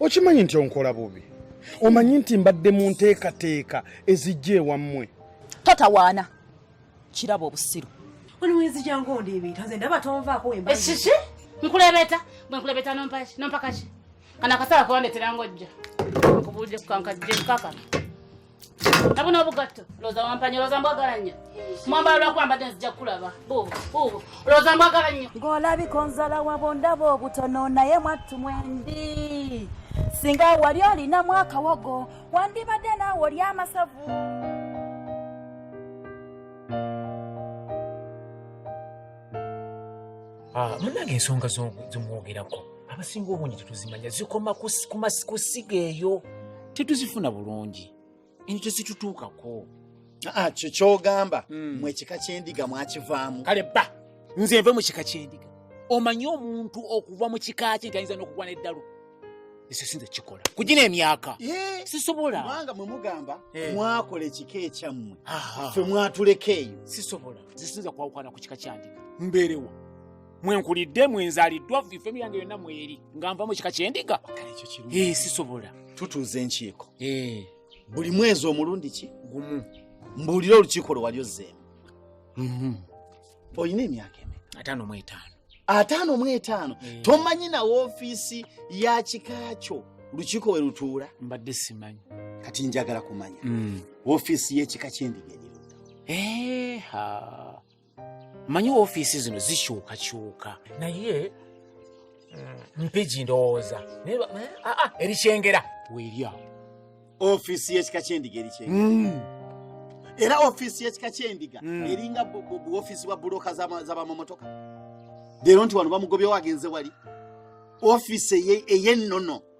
okimanyi nti onkola bubi omanyi nti mbadde mu nteekateeka ezijja ewammwe totawaana kiraba obusiru ekiki nkulebeta bwe nkulebeta nompakaki kana akasala kubandeteranga ojja nkubuulire kukankajje nkakana Tabuna obugatto loza wampanya loza mbwagala nnyo mwambala lwakwambadde nzija kukulaba buubu buubu loza mbwagala nnyo ng'olabika onzala wabo ndaba obutono naye mwattu mwendi singa wali olinamu akawogo wandibadde naawe oli amasavu ah, munange ensonga zomwogerako abasinga obungi tetuzimanya zikoma ku siga eyo tetuzifuna bulungi eno tezitutuukako ah, ah, kyokyogamba hmm. mu ekika kyendiga mwakivaamu kale ba nze nve mu kika kyendiga omanyi omuntu okuva mu kika kye nti ayinza n'okugwa n'eddalu ekyo sinze kikola kugina emyaka eh, sisobola kubanga mwe mugamba eh. mwakola ekika ekyammwe fe mwatuleka eyo sisobola zisinza kwawukana ku kika kyandika mbeerewo mwenkulidde mwenzaliddwa ifemu yange yonna mweri nga nva mu kika kyendiga eh, sisobola tutuuza enkiiko eh. buli mwezi omulundi ki gumu mbuulire olukiiko lwe wali ozzeemu mhm. olina emyaka emeka ataano mu etaano ataano mu etaano eh. tomanyi na woofiisi ya kika kyo lukiiko we lutuula mbadde simanyi kati njagala kumanya mm. woofiisi y'ekika kyendiga eriruda manyi ofiisi zino zikyukakyuka naye mm, mpigi ndowooza naye ba- eh, ah, ah, erikyengera weerya ofiisi y'ekika ky'endiga erikyengera era ofiisi y'ekika ky'endiga Mm. eringa bu- bu- bu ofiisi bwa bulooka z'ama- z'abamamotoka leero nti wano bamugobyewo agenze wali ofiisi eye- ey'ennono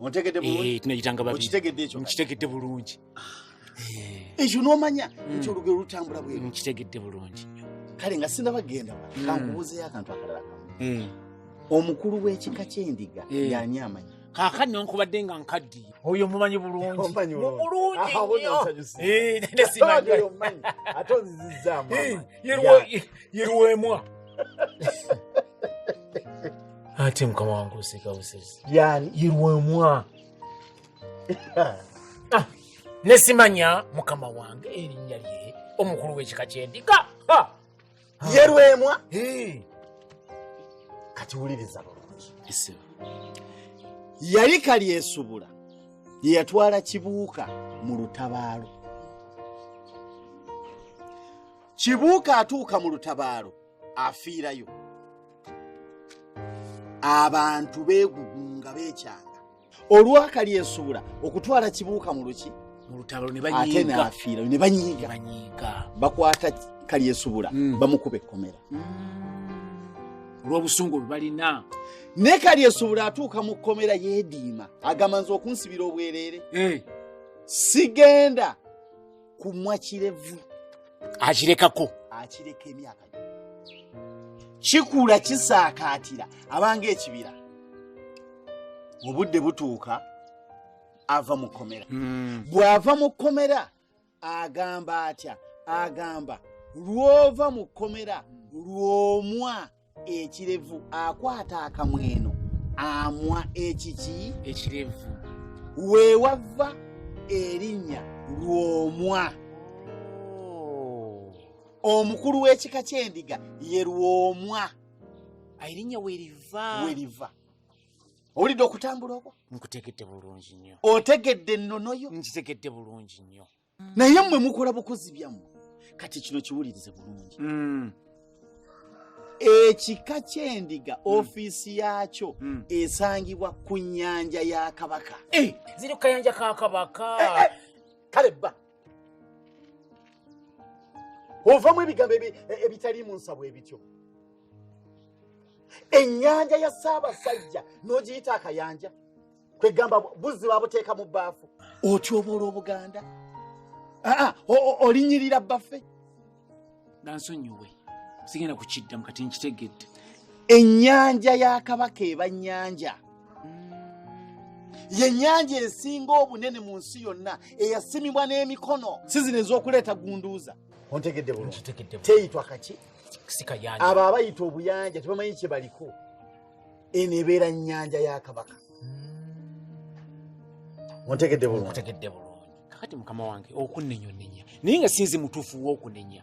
ontegedde bulungi eh, tunayitanga babi okitegedde ekyo nkitegedde bulungi eh. ekyo n'omanya hmm. nti olugero lutambula bwe nkitegedde bulungi kale nga sinabagenda hmm. kankubuuzeyo akantu akalala hmm. omukulu w'ekika ky'endiga yani amanyi kakati nonkubadde nga nkaddi oyo mumanyi bulungi bulungi ate mukama wange oseka busezi yani irwemwa ah, nesimanya mukama wange erinnya lye omukulu w'ekika ky'endiga yerwemwa kati wuliriza bulungi yali kalyesubula yeyatwala kibuuka mu lutabaalo kibuuka atuuka mu lutabaalo afiirayo abantu beegugunga beekyanga olwakali ensuula okutwala kibuuka mu luki mu lutalo ate naafiirayo ne banyiiga bakwata kali ensuula hmm. bamukuba ekkomera hmm. olw'obusungu bwe balina naye kali ensuula atuuka mu kkomera yeediima agamba nze okunsibira obwereere eh. sigenda kumwa kirevu akirekako akireka emyaka kikula kisaakaatira abanga ekibira mu budde butuuka ava mu kkomera hmm. bw'ava mu kkomera agamba atya agamba lw'ova mu kkomera lw'omwa ekirevu akwata akamweno amwa ekiki ekirevu wewava erinnya lwomwa oh. omukulu w'ekika ky'endiga ye lwomwa erinnya weriva weriva owulidde okutambula okwo nkutegedde bulungi nnyo otegedde ennono yo nkitegedde bulungi nnyo naye mmwe mukola bukozi byammwe kati kino kiwulirize bulungi mm. ekika kyendiga mm. ofiisi yaakyo mm. esangibwa ku nyanja ya kabaka eh. ziri kukayanja ka kabaka eh, eh. kale bba ovamu ebigambo e, ebitali mu nsabwa ebityo ennyanja ya ssaabasajja n'ogiyita akayanja kwegamba buzzi babuteeka mu bbaafu otyoboola obuganda aa olinyirira bbaffe gansonyiwe sigenda kukiddamu kati nkitegedde ennyanja ya kabaka eba nnyanja yennyanja esinga obunene mu nsi yonna eyasimibwa n'emikono si zino ez'okuleeta gunduuza ontegedde bulungi teyitwa kaki abo abayita obuyanja tebamanyi kye baliko eno ebeera nnyanja ya kabaka ontegedde hmm. bulungitegedde bulungi kakati mukama wange okunenya onenya naye nga sinzi mutuufu wokunenya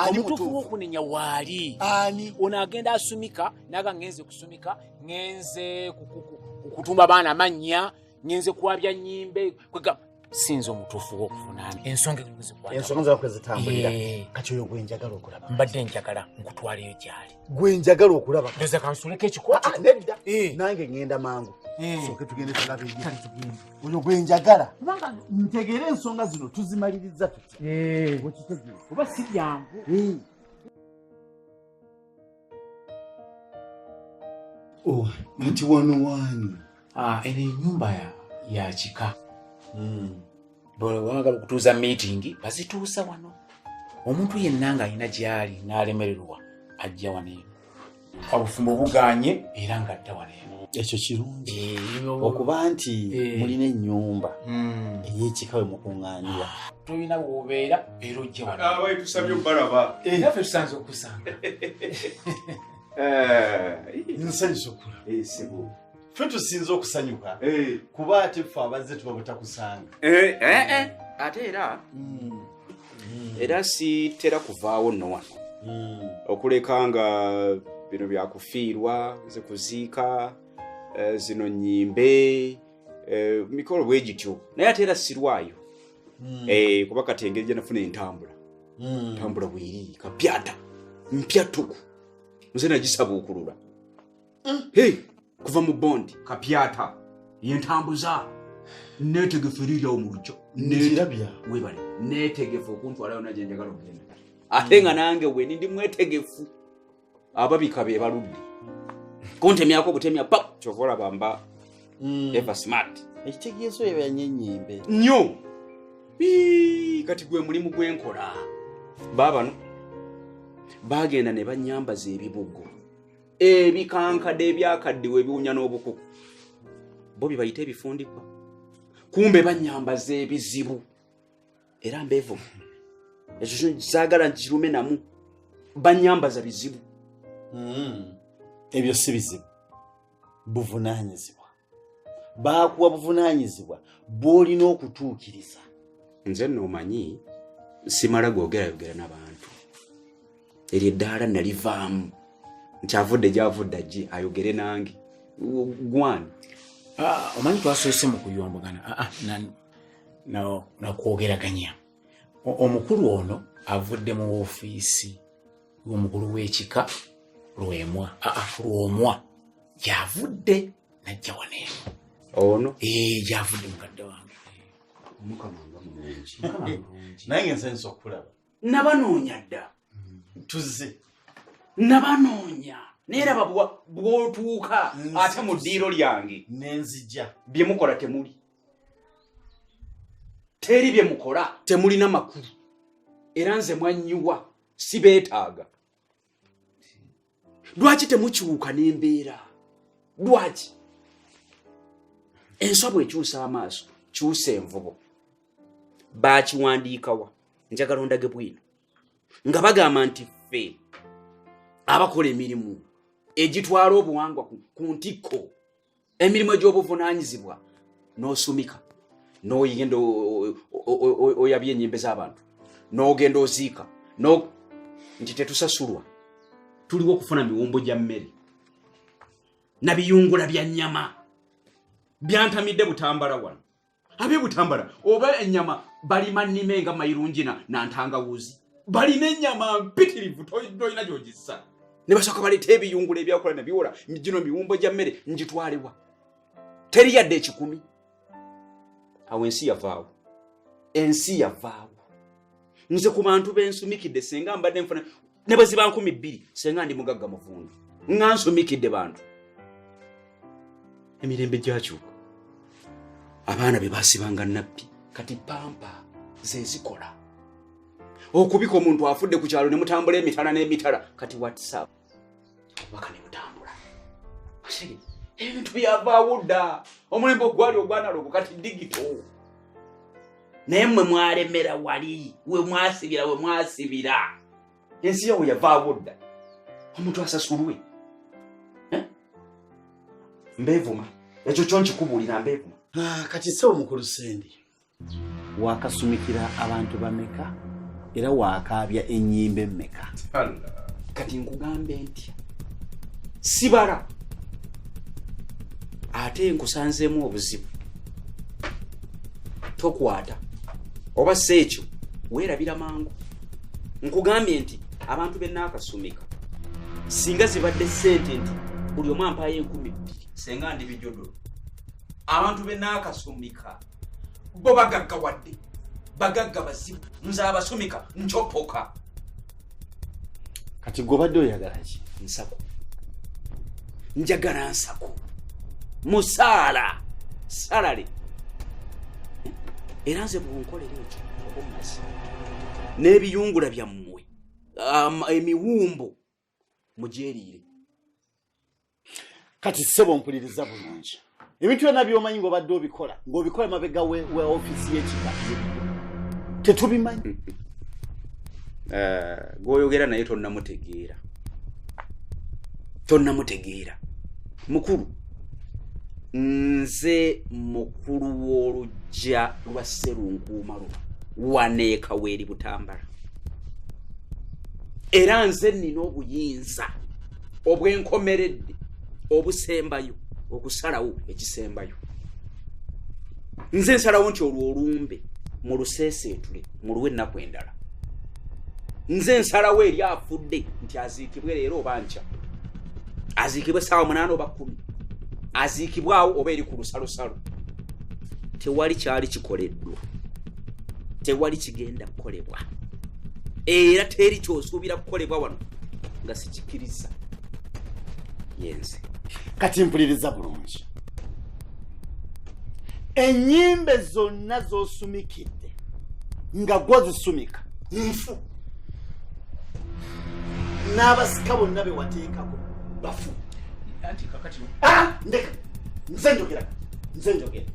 omutuufu wokunenya waali ani ono agenda asumika naga ngenze kusumika ngenze kukuku okutumba abaana amannya ngenze kwabya nyimbe kwegamba sinza omutuufu wokuvunaana ensonga ensonga zakwe zitambulira eh. kati oyo gwenjagala okulaba mbadde njagala nkutwaleyo gyali gwenjagala okulaba ndoza kansuleko ekikwata ah, nedda eh. nange ngenda mangu eh. soke tugende tulabe oyo gwenjagala kubanga ntegeera ensonga zino tuzimaliriza tutya oba si byangu Oh, nti wano waani ah, eno enyumba ya kika hmm. bwebagala okutuuza miitingi bazituusa wano omuntu yenna ng'alina gy'ali n'alemererwa ajja wano eno obufumbo buganye era ng'adda wano ekyo kirungi eh, okuba nti eh. mulina ennyumba hmm. eyekika we mukuŋŋaanira tolina wobeera era ojja wanatusabye ah, obalaba eh. naffe tusanze okusanga nsanyusa okula fe tusinza okusanyuka kuba ate fe abazze tuba butakusanga ate era hmm. mm. era sitera kuvaawo no wano mm. okuleka nga bino byakufiirwa ze kuziika eh, zino nyimbe eh, mikolo bwe gityo naye ate era sirwayo mm. eh, kuba kati engeri gye nafuna entambula ntambula bweri kapyata mpyatuku nze nagisabuukulula kuva mu bondi kapyata yentambuza netegefu eriryawo mu lujja webale netegefu okuntwalayo naje njagala okugenda ate nga nange weni ndi mwetegefu ababika be baludde kuntemyako obutemya pa kyova olaba mba hmm. eva smart ekitegeeso yebanye enyembe nyo kati gwe mulimu gwenkola baabano bagenda ne banyambaza ebibugo ebikankade ebyakaddiwa ebiwunya n'obukuku bo bibayita ebifundikwa kumbe banyambaza ebizibu era mbevu ekyo kyzagala nkirume namu banyambaza bizibu hmm. ebyo si bizibu buvunanyizibwa baakuwa buvunaanyizibwa bw'olina okutuukiriza nze nno omanyi simala googerayogera n'abantu eryo eddaala nalivaamu nti avudde gyavudde ajje ayogere nange gwani ah, omanyi twasoose mu kuyombagana ah, ah, nakwogeraganya omukulu ono avudde mu ofiisi y'omukulu w'ekika lwemwa lwomwa gyavudde najja wano eno ono eh, gyavudde mukadde wange naye ngenze nsa okulaba nabanoonya dda tuzze nabanoonya naye raba bwotuuka ate mu ddiiro lyange nenzija bye mukola temuli teri bye mukola temulina makulu era nze mwanyiwa sibeetaaga lwaki temukyuka n'embeera lwaki enswa bwekyusa amaaso kyusa envubo bakiwandiikawa njagala ondage bwino nga bagamba nti ffe abakola emirimu egitwala obuwangwa ku ntikko emirimu egy'obuvunaanyizibwa n'osumika n'oyigenda oyabya enyimbe z'abantu n'ogenda oziika nti tetusasulwa tuliwo okufuna miwumbo gya mmere nabiyungula bya nnyama byantamidde butambala wano abe butambala oba enyama balima nime nga mayirungi na nantangawuzi balina enyama mpitirivu tolina gyogisa ne basooka baleeta ebiyungula ebyakola ne biwola gino miwumbo gya mmere ngitwalewa teri yadde ekikumi awo ensi yavaawo ensi yavaawo nze ku bantu bensumikidde senga mbadde nfuna ne bwe ziba nkumi bbiri senga ndi mugagga muvundu nga nsumikidde bantu emirembe gyakyuka abaana be basibanga nabbi kati pampa zezikola okubika omuntu afudde ku kyalo ne mutambula emitala n'emitala kati whatsapp obubaka ne butambula ebintu byavaawo dda omulembe ogwali ogwanalogo kati digito naye mwe mwalemera wali we mwasibira we mwasibira ensi yawo yavaawo dda omuntu asasulwe eh? mbevuma ekyo kyo nkikubuulira mbevuma ah, kati se omukulu sendi wakasumikira abantu bameka era wakaabya enyimba emmeka kati nkugambe ntya sibala ate nkusanzeemu obuzibu tokwata oba si ekyo weerabira mangu nkugambye nti abantu benaakasumika singa zibadde sente nti buli omu ampaayo enkumi bbiri senga ndi bijodo abantu benaakasumika bo bagagga wadde bagagga bazibu nze abasumika ncopoka kati gobadde oyagala ki nsako njagala nsako musaala salale era nze bwonkolera ekyo oba omazi n'ebiyungula byammwe emiwumbo mugyeriire kati ssebo mpuliriza bulungi ebintu byonna byomanyi ngaobadde obikola ngaobikola mabega we ofisi yekika tetubimanyi mm, mm. Eh, gwoyogera naye tonnamutegeera tonnamutegeera mukulu nze mukulu w'olujja lwa sserunkuuma luba waneeka weeri butambala era nze nnina obuyinza obwenkomeredde obusembayo okusalawo ekisembayo nze nsalawo nti olwo olumbe muluseeseetule muluwe ennaku endala nze nsalawo eri afudde nti aziikibwe leero oba nkya aziikibwe saawa munaana oba kumi aziikibwawo oba eri ku lusalosalo tewali kyali kikoleddwa tewali kigenda kukolebwa era teri kyosuubira kukolebwa wano nga sikikiriza yenze kati mpuliriza bulungi enyimbe zonna zosumikidde nga gwozisumika nfu n'abasika bonna bewateekako bafu ah, ndeka nze njogera nze njogera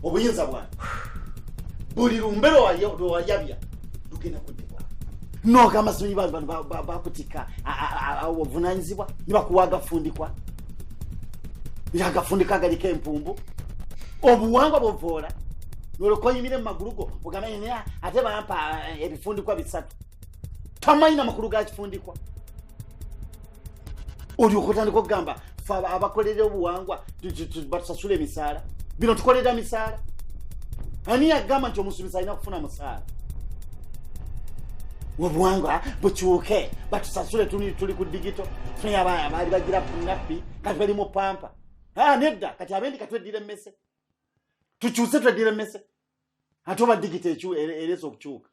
obuyinza bwange buli lumbe lwewayabya lugenda kuddibwa nogamba simanyi bantu bano bakutika obuvunanyizibwa nibakuwa agafundikwa agafundikwa agaliko empumbu obuwangwa buvoola nolwokoyimire mu magulu go ogamba ate bampa eh, ebifundikwa bisatu tamanyi na makulu ga kifundikwa olyoka otandika okugamba fe abakolera obuwangwa batusasula emisaala bino tukolera misaala ani yagamba nti omusumisa alina kufuna musaala obuwangwa bukyuke batusasule tuli ku digito fe abaana baali bagira punappi kati bali mu pampa ah, nedda kati abendi katweddira emmese tukyuse tweddira emmese ate oba digita ereza okukyuka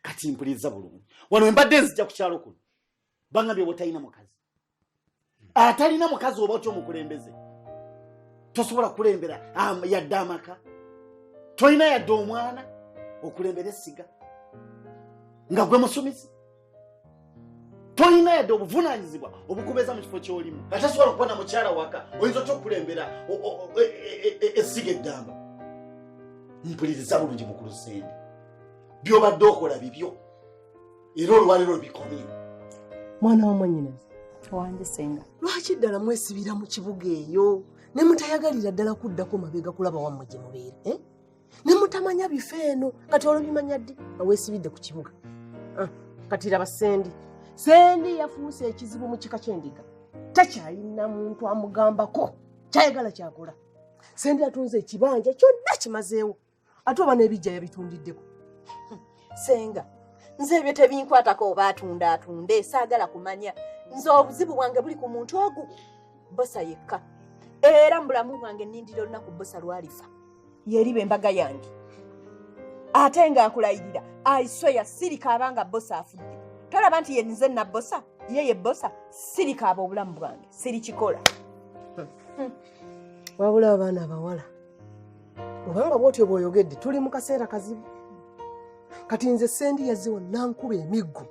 kati mpuliriza bulungi wano embadde nzija ku kyalo kuno bangambye obatalina mukazi atalina mukazi oba otya omukulembeze tosobola kulembera yadde amaka tolina yadde omwana okulembera essiga nga gwe musumizi tolina yadde obuvunanyizibwa obukubeeza mu kifo kyolimu nga tasobola okuba na mukyala waka oyinza otya okukulembera essiga e, e, e, eddamba mpuliriza bulungi mukulu sende byobadde okola bibyo era olwaliro bikomye mwana wamwanyinazi wange senga lwaki ddala mwesibira mu kibuga eyo ne mutayagalira ddala kuddako mabega kulaba wammwe gye mubeera eh? ne mutamanya bifo eno kati olubimanya ddi aweesibidde ku kibuga ah, kati laba sendi sendi yafuuse ekizibu mu kika ky'endiga takyalina muntu amugambako kyayagala kyakola sendi atunze ekibanja kyonna kimazeewo ate oba n'ebijja yabitundiddeko senga nze ebyo tebinkwatako oba atunda atunde saagala kumanya nze obuzibu bwange buli ku muntu ogu bosa yekka era mu bulamu bwange nindira olunaku bosa lwalifa yeriba embaga yange ate nga akulayirira aisoya sirika abanga bosa afudde tolaba nti yenize nabosa ye ye bosa sirika aba obulamu bwange sirikikola hmm. wabula abaana abawala obanga bwotyo bwoyogedde tuli mu kaseera kazibu kati nze sendi yaziwa nankuba emiggo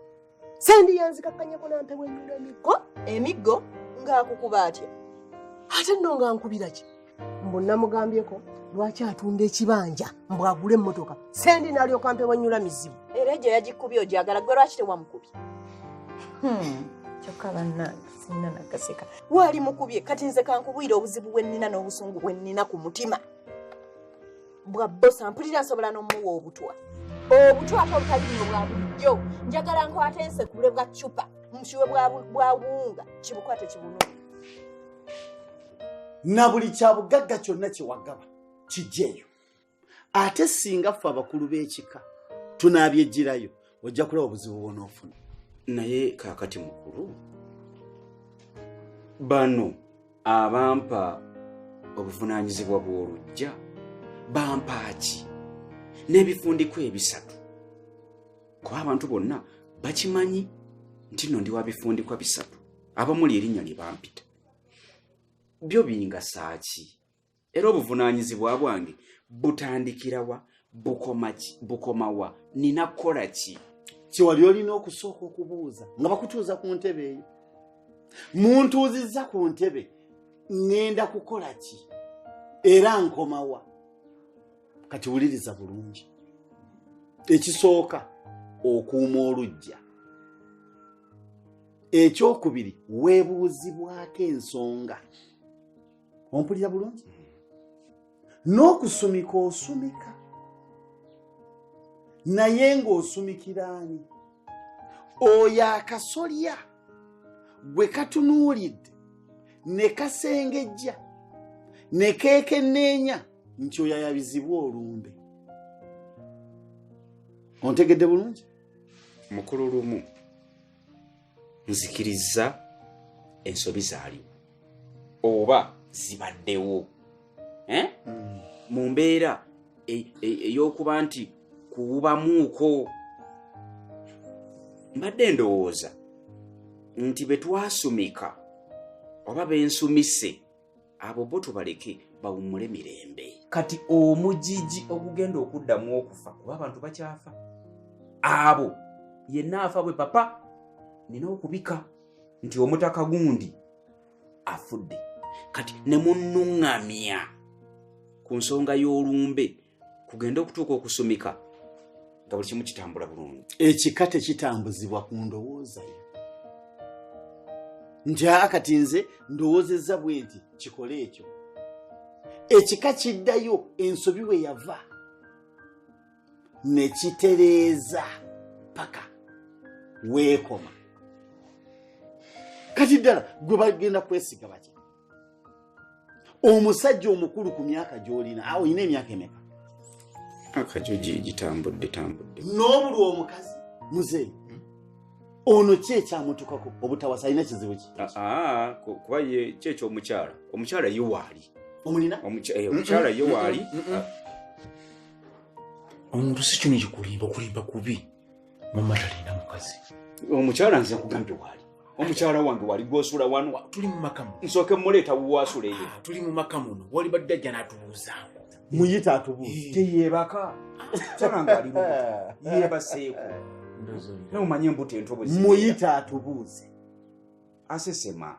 sendi yanzikakkanyako nampewa enyulo emiggo emiggo ng'akukuba atya ate nno nga nkubira ki mbu namugambyeko lwaki atunda ekibanja mbu agule emmotoka sendi nalyoka mpewa enyula mizibu era egyo yagikubye ogyagala gwe lwaki tewamukubi hmm, kyokka bannange sinna nagaseka waali mukubye kati nze kankubwire obuzibu bwe nnina n'obusungu bwe nnina ku mutima bwa bosa mpulira nsobola n'omuwa obutwa obutwa ate obutaliyo bwa bulijjo njagala nkwata ensekule bwa cupa mushiwe bwa wunga kibukwate kibunu na buli kya bugagga kyonna kyewagaba kijjeeyo ate singa ffe abakulu b'ekika tunaabyeggirayo ojja kulaba obuzibu bwonoofuna naye kaakati mukulu bano abampa obuvunaanyizibwa bw'olujja bampaaki n'ebifundikwa ebisatu kuba abantu bonna bakimanyi nti no ndi wa bifundikwa bisatu abamuli erinnya lye bampita byo bingasaaki era obuvunaanyizibwa bwange butandikirawa bukomawa nina kukola ki kyewali olina okusooka okubuuza nga bakutuuza ku ntebe eyo muntuuzizza ku ntebe ŋŋenda kukola ki era nkomawa kati wuliriza bulungi ekisooka okuuma olujja ekyokubiri weebuuzibwako ensonga ompulira bulungi n'okusumika osumika naye ng'osumikiraani oyo akasolya gwe katunuulidde ne kasengejja ne keekenneenya nti oyo ayabizibwa olumbe ontegedde bulungi mukulu lumu nzikirizza ensobi zaaliwo oba zibaddewo eh? mm. mu mbeera e, e, ey'okuba nti kuwubamuuko mbadde ndowooza nti bwe twasumika oba bensumise abo bo tubaleke bawummule mirembe kati omujiji ogugenda okuddamu okufa kuba abantu bakyafa abo yenna afa bwe papa nina okubika nti omutaka gundi afudde kati ne munnuŋŋamya ku nsonga y'olumbe kugenda okutuuka okusumika nga buli kimu kitambula bulungi ekika tekitambuzibwa ku ndowoozayo nti aa kati nze ndowoozezza bwe nti kikole ekyo ekika kiddayo ensobi we yava ne kitereeza paka weekoma kati ddala gwe bagenda kwesiga baki omusajja omukulu ku myaka gyolina awo olina emyaka emeka akajo gitambudde tambudde n'obulwa omukazi muzeeyi hmm? ono ki ekyamutukako obutawasa alina kizibu ki ah, ah, kuba ye ki ekyomukyala omukyala ye waali omulina eh, omukyala ye waali ah. omuntu si kino kikulimba okulimba kubi mama talina mukazi omukyala nze nkugambye waali omukyala wange wali gwosula wanu tuli mumakamu nsooke muleeta wuwasula eyo ah, tuli mumaka muno wali badde ajja natubuuza muyita atubuuza eh. teyebaka mukyala nga ali yebaseeko naye omanye embuto entobozi muyita atubuuze asesema